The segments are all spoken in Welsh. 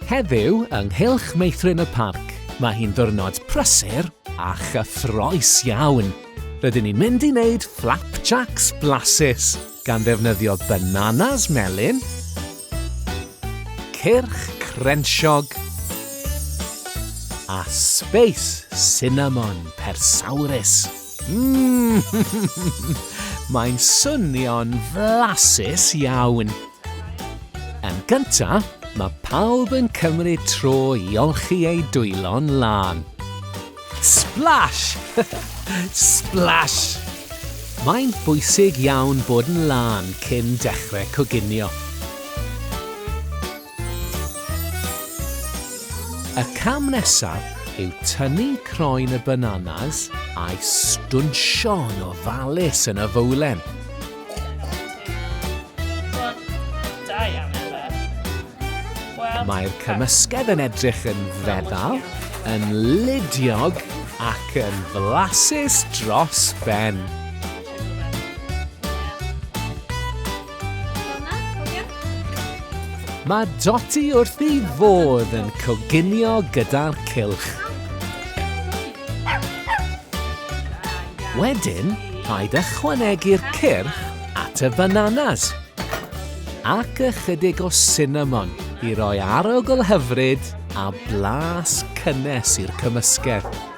Heddiw, yng nghylch meithrin y parc, mae hi'n ddwrnod prysur a chyffroes iawn. Rydyn ni'n mynd i wneud flapjacks blasus gan ddefnyddio bananas melyn, cyrch crensiog a sbeis cinnamon persawrus. Mae'n swnio'n flasus iawn. Yn gynta, mae pawb yn cymryd tro i olchi eu dwylo'n lân. Splash! Splash! Mae'n bwysig iawn bod yn lân cyn dechrau coginio. Y cam nesaf yw tynnu croen y bananas a'i stwnsio yn ofalus yn y fowlen. Mae'r cymysgedd yn edrych yn feddal, yn ludiog ac yn flasus dros ben. Mae Dotty wrth ei fodd yn coginio gyda'r cylch. Wedyn, rhaid ychwanegu'r cyrch at y bananas ac ychydig o cinnamon i roi arogl hyfryd a blas cynnes i'r cymysgedd.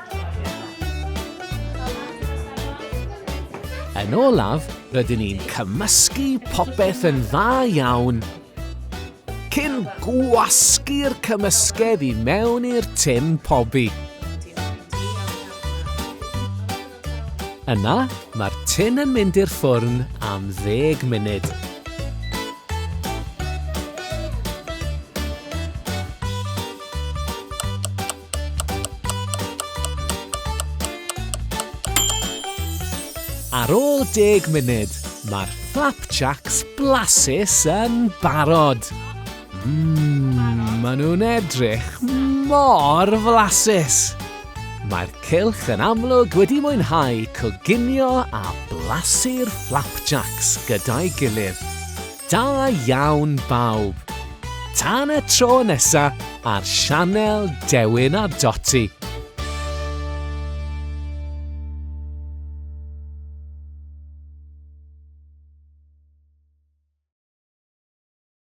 Yn olaf, rydyn ni'n cymysgu popeth yn dda iawn cyn gwasgu'r cymysgedd i mewn i'r tin pobi. Yna, mae'r tin yn mynd i'r ffwrn am ddeg munud. Ar ôl deg munud, mae'r flapjacks blasus yn barod. Mmm, maen nhw'n edrych mor flasus. Mae'r cylch yn amlwg wedi mwynhau coginio a blasu'r flapjacks gyda'i gilydd. Da iawn bawb! Tan y tro nesa ar sianel Dewin a Doti.